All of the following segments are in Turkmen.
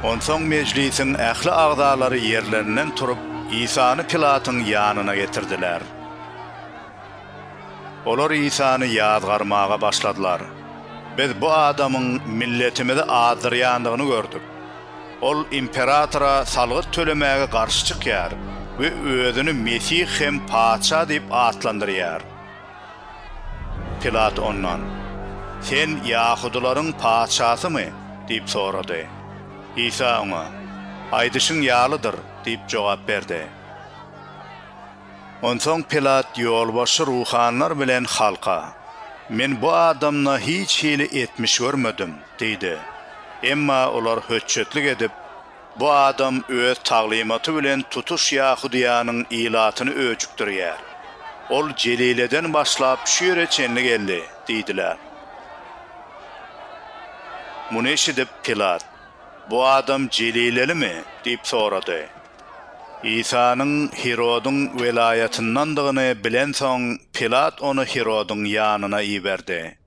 Onsoň mejlisiň ähli agzalary ýerlerinden turup, Isany Pilatyň ýanyna getirdiler. Olar Isany ýazgarmaga başladylar, Biz bu adamyň milletimizi azdyrýandygyny gördük. Ol imperatora salgyt tölemäge garşy çykýar we özüni Mesih hem Patyşa diýip atlandyrýar. Pilat ondan, Sen ýahudylaryň patyşasymy? diýip sorady. Isa oňa, Aýdyşyň ýalydyr diýip jogap berdi. Onsoň Pilat ýolbaşçy ruhanylar bilen halka, Men bu adamda hiç hili etmiş görmedim diýdi. Emma olar höçjetlik edip, Bu adam öz taglymaty bilen tutuş Ýahudyýanyň ilatyny öjükdirýär. Ol Jelileden başlap şu ýere çenli geldi diýdiler. Muny eşidip, Pilat, Bu adam jelilelimi? diýip sorady. Isanyň Hirodyň welaýatyndandygyny bilensoň, Pilat ony Hirodyň ýanyna iberdi.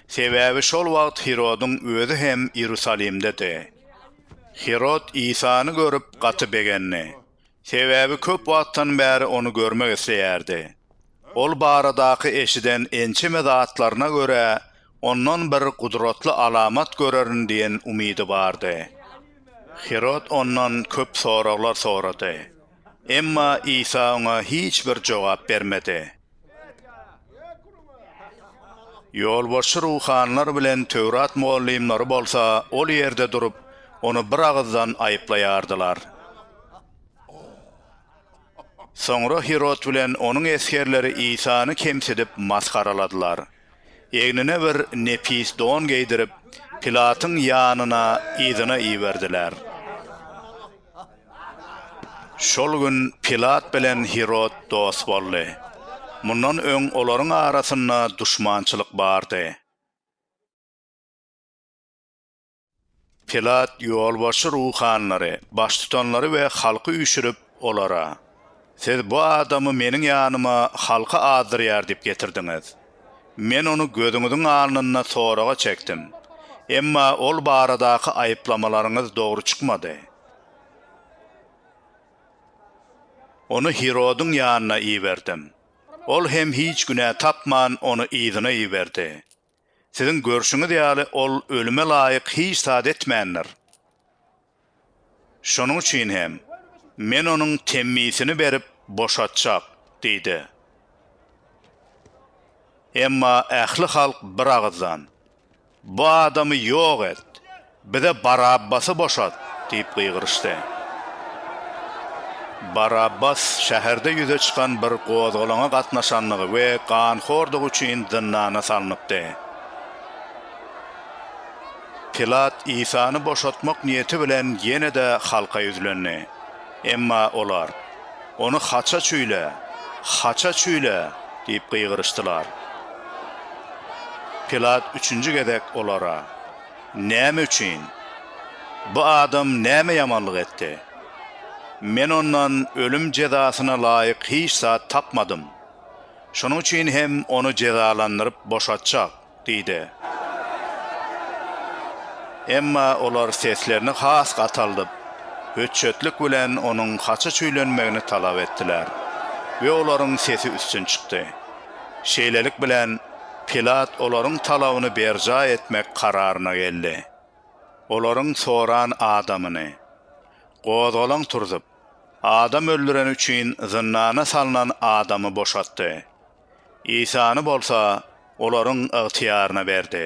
Sebäbi şol wagt Hirodyň özi hem Iýerusalimdedi. Hirod Isany görüp, gaty begendi. Sebäbi köp wagtdan bäri ony görmek isleýärdi. Ol baradaky eşiden ençeme zatlaryna görä, ondan bir gudratly alamat görerin diýen umydy bardy. Hirod ondan köp soraglar sorady. Emma Isa oňa hiç bir jogap bermedi. Ýolbaşçy ruhanylar bilen Töwrat mugallymlary bolsa ol ýerde durup, ony bir agyzdan aýyplaýardylar. Soňra Hirod bilen onuň esgerleri Isany kemsidip, masgaraladylar. Egnine bir nepis don geýdirip, Pilatyň ýanyna yzyna iberdiler. Şol gün Pilat bilen Hirod dost boldy. Mundan öň olaryň arasynda duşmançylyk bardy. Pilat ýolbaşçy ruhanylary, baştutanlary we halky üýşürip, olara, Siz bu adamy meniň ýanyma halky azdyrýar diýip getirdiňiz. Men ony gözüňiziň alnynda soraga çekdim, emma ol baradaky aýyplamalaryňyz dogry çykmady. Ony Hirodyň ýanyna iberdim. Ol hem hiç günä tapman, ony yzyna iberdi. Siziň görşüňiz ýaly, ol ölüme laýyk hiç zat etmändir. Şonuň üçin hem Men onuň temmisini berip boşatjak diýdi. Emma ähli halk bir agyzdan, Bu adamy ýok et! Bize Barabbasy boşat! diýip gygyryşdy. Barabbas şäherde ýüze çykan bir gozgalaňa gatnaşandygy we ganhordygy üçin zyndana salnypdy. Pilat Isany boşatmak niýeti bilen ýene-de halka ýüzlendi. Emma olar, Ony haça çüýle! Haça çüýle! diýip gygyryşdylar. Pilat üçünji gezek olara. Näme üçin? Bu adam näme ýamanlyk etdi? Men ondan ölüm jezasyna laýyk hiç zat tapmadym. Şonuň üçin hem ony jezalandyryp boşatjak diýdi. Emma olar seslerini has gataldyp, hötjetlik bilen onuň haça çüýlenmegini talap etdiler we olaryň sesi üstün çykdy. Şeýlelik bilen, Pilat olaryň talabyny berjaý etmek kararyna geldi. Olaryň soran adamyny, gozgalaň turzup, adam öldüreni üçin zyndana salnan adamy boşatdy. Isany bolsa olaryň ygtyýaryna berdi.